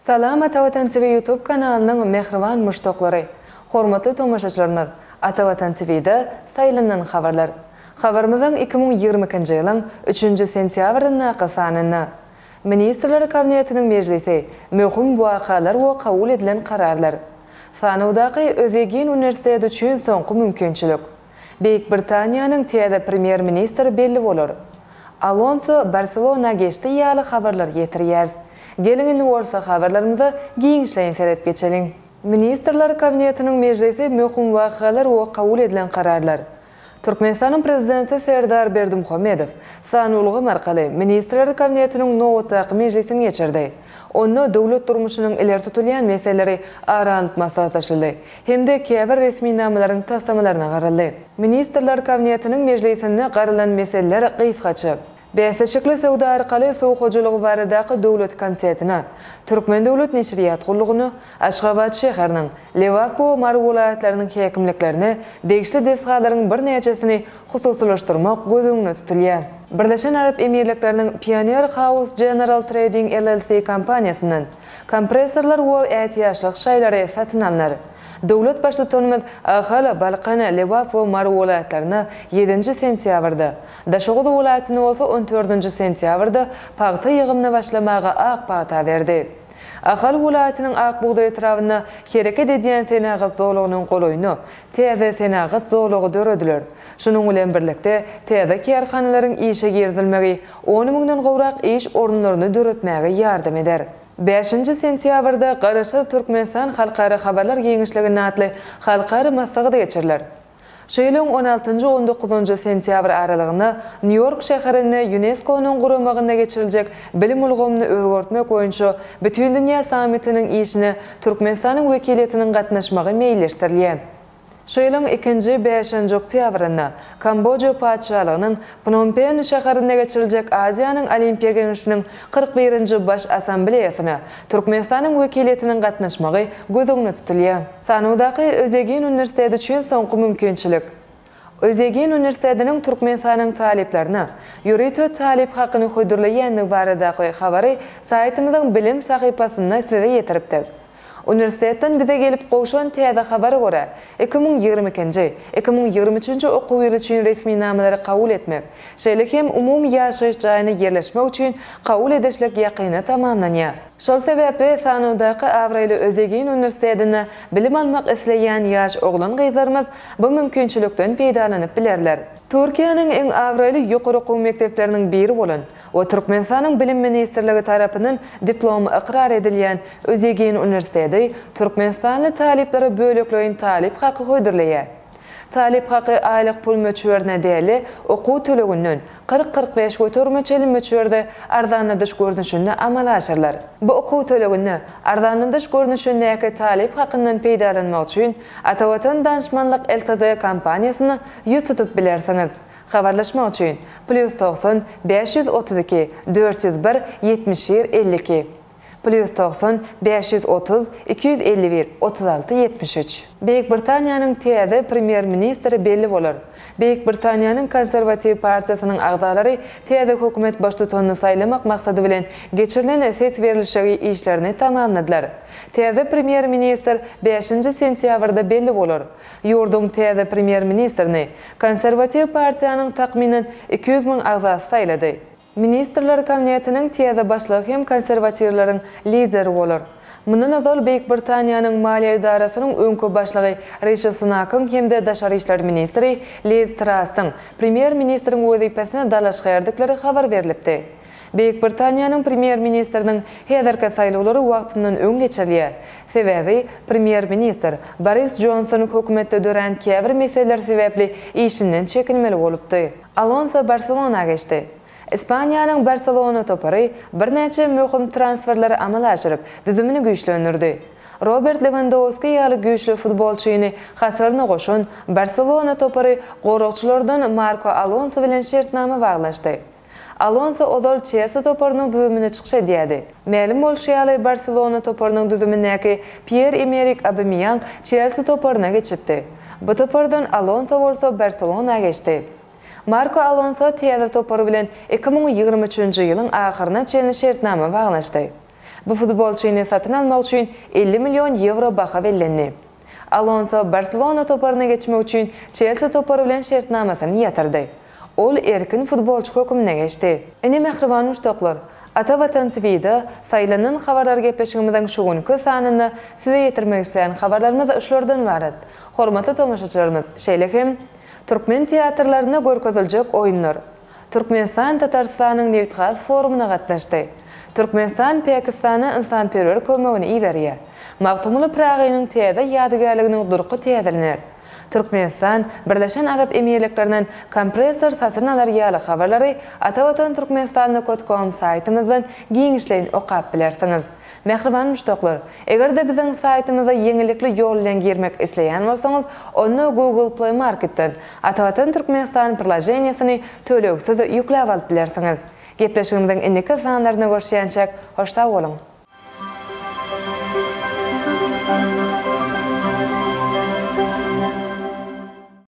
Salam Atavatan TV YouTube kanalynyň mähriban muşdaklary! Hormatly tomaşaçylarymyz! Atavatan TV-de Saýlanan habarlar! Habarymyzyň iki müň ýigrimi ikinji ýylyň üçünji sentýabryndaky sanynda Ministrler Kabinetiniň mejlisi Möhüm wakalar we kabul edilen kararlar Sanawdaky Özýegin uniwersiteti üçin soňky mümkinçilik Beýik Britaniýanyň täze premýer-ministri belli bolar. Alonso Barselona geçdi ýaly habarlar ýetirýäris. Geliň indi bolsa habarlarymyza giňişleýin seredip geçeliň. Ministrler Kabinetiniň mejlisi Möhüm wakalar we kabul edilen kararlar. Türkmenistanyň Prezidenti Serdar Berdimuhamedow sanly ulgam arkaly Ministrler Kabinetiniň nobatdaky mejlisini geçirdi. Onda döwlet durmuşynyň ileri tutulýan meseleleri ara alnyp maslahatlaşyldy. hem-de käbir resminamalaryň taslamalaryna garaldy. Ministrler Kabinetiniň mejlisinde garalan meseleler gysgaça, Bäsleşikli söwda arkaly suw hojalygy baradaky döwlet konseptine, Türkmen döwlet neşirýat gullugyna, Aşgabat şäheriniň, Lebap we Mary welaýatlarynyň häkimliklerine degişli desgalaryň birnäçesini hususylaşdyrmak göz öňünde tutulýar. Birleşen Arap Emirlikleriniň Pioneer House General Trading LLC kompaniýasyndan, Kompressorlar we ätiýaçlyk şaýlary satyn alnar. Döwlet Baştutanymyz Ahal, Balkan, Lebap we Mary welaýatlaryna ýedinji sentýabrda, Daşoguz welaýatyna bolsa on dördünji sentýabrda pagta ýygymyna başlamaga ak pata berdi. Ahal welaýatynyň Ak bugdaý etrabynda hereket edýän senagat zolagynyň golaýyna täze senagat zolagy dörediler. Şunuň bilen birlikde, täze kärhanalaryň işe girizilmegi on müňden gowrak iş orunlaryny döretmäge ýardam eder. Bäşinji sentýabrda Garaşsyz Türkmenistan halkara habarlar giňişliginde atly halkara maslahat geçiriler. Şu ýylyň on altynjy, on dokuzynjy sentýabr aralygynda Nýu-Ýork şäherinde Ýuneskonyň guramagynda geçiriljek Bilim ulgamyny özgertmek boýunça Bütindünýä sammitiniň işine Türkmenistanyň wekiliýetiniň gatnaşmagy meýilleşdirilýär. Şu ýylyň ikinji bäşenji oktýabrynda Kamboja Patyşalygynyň Pnompen şäherinde geçiriljek Aziýanyň Olimpiýa Geňeşiniň kyrk birinji Baş Assambleýasyna Türkmenistanyň wekiliýetiniň gatnaşmagy göz öňünde tutulýar. Sanawdaky Özýegin uniwersiteti üçin soňky mümkinçilik Özýegin uniwersitetiniň Türkmenistanyň talyplaryna ýörite talyp hakyny hödürleýändigi baradaky habary saýtymyzyň bilim sahypasynda size ýetiripdik. Uniwersitetden bize gelip gowşan täze habara görä, iki müň ýigrimi ikinji, iki müň ýigrimi üçünji okuw ýyly üçin resminamalary kabul etmek, şeýle hem umumy ýaşaýyş jaýyna ýerleşmek üçin kabul edişlik ýakynda tamamlanýar. Şol sebäpli sanawdaky abraýly Özegin uniwersitetinde bilim almak isleýän ýaş oglan-gyzlarymyz bu mümkinçilikden peýdalanyp bilerler. Türkiýäniň iň abraýly ýokary okuw mekdepleriniň biri bolan, we Türkmenistanyň Bilim ministrligi tarapyndan diplomy ykrar edilýän Özýegin uniwersiteti türkmenistanly talyplara bölekleýin talyp haky hödürleýär. Talyp haky aýlyk pul möçberine däl-de, okuw töleginden kyrk-kyrk bäş göterime çenli möçberde arzanladyş görnüşinde amala aşyrylar. Bu okuw töleginde arzanladyş görnüşindäki talyp hakyndan peýdalanmak üçin Atavatan Danşmanlyk LTD kompaniýasyna ýüz tutup bilersiňiz. Habarlaşmak üçin, plýus togsan, bäş ýüz otuz iki, dört ýüz bir, ýetmiş bir, elli iki, plýus togsan, bäş ýüz otuz, iki ýüz elli bir, otuz alty, ýetmiş üç. Beýik Britaniýanyň täze premýer-ministri belli bolar. Beýik Britaniýanyň Konserwatiw partiýasynyň agzalary täze hökümet baştutanyny saýlamak maksady bilen geçirilen ses berilişigi işlerini tamamladylar. Täze premýer-ministr bäşinji sentýabrda belli bolar. Ýurduň täze premýer-ministrini Konserwatiw partiýanyň takmynan iki ýüz müň agzasy saýlady. Ministrler kabinetiniň täze başlygy hem konserwatiwleriň lideri bolar. Mundan ozal Beýik Britaniýanyň maliýe edarasynyň öňki başlygy Rişi Sunakyň hem-de daşary işler ministri Liz Trassyň premýer-ministriň wezipesine dalaşgärdikleri habar berlipdi. Beýik Britaniýanyň premýer-ministriniň häzirki saýlawlary wagtyndan öň geçirilýär. Sebäbi, premýer-ministr Boris Jonson hökümetde dörän käbir meseleler sebäpli işinden çekilmeli bolupdy. Alonso Barselona geçdi. Ispaniýanyň Barselona topary birnäçe möhüm transferleri amala aşyryp, düzümini güýçlendirdi. Robert Lewandowski ýaly güýçli futbolçyny hasaryna goşan Barselona topary goragçylardan Marko Alonso bilen şertnama baglaşdy. Alonso ozal Çelsi toparynyň düzüminde çykyş edýärdi. Mälim bolşy ýaly, Barselona toparynyň düzümindäki Pýer-Emerik Obamýang Çelsi toparyna geçipdi. Bu topardan Alonso bolsa Barselona geçdi. Marko Alonso täze topary bilen iki müň ýigrimi üçünji ýylyň ahyryna çenli şertnama baglaşdy. Bu futbolçyny satyn almak üçin elli million ýewro baha bellendi. Alonso Barselona toparyna geçmek üçin Çelsi topary bilen şertnamasyny ýatyrdy. Ol erkin futbolçy hökmünde geçdi. Ine mähriban muşdaklar, Ata Watan TV-da Saýlanan habarlar gepleşigimiziň şu günki sanynda size ýetirmek isleýän habarlarymyz şulardan ybarat. Hormatly tomaşaçylarymyz, şeýle hem Türkmen teatrlarynda görkeziljek oýunlar, Türkmenistan Tatarystanyň nebit-gaz forumyna gatnaşdy. Türkmenistan Pakistana ynsanperwer kömegini iberýär. Magtymguly Pyragynyň täze ýadygärliginiň durky täzelener. Türkmenistan Birleşen Arap Emirliklerinden kompressor satyn alar ýaly habarlary Atavatan Türkmenistanda kötkom saýtymyzdan giňişleýin okap bilersiňiz. Mähriban muşdaklar! Eger-de biziň saýtymyza ýeňillikli ýol bilen girmek isleýän bolsaňyz, onda Google Play Marketden Atavatan Türkmenistan priloženiýesini tölegsiz ýükläp alyp bilersiňiz. Gepleşigimiziň indiki sanlaryna görşýänçäk, hoş sag boluň!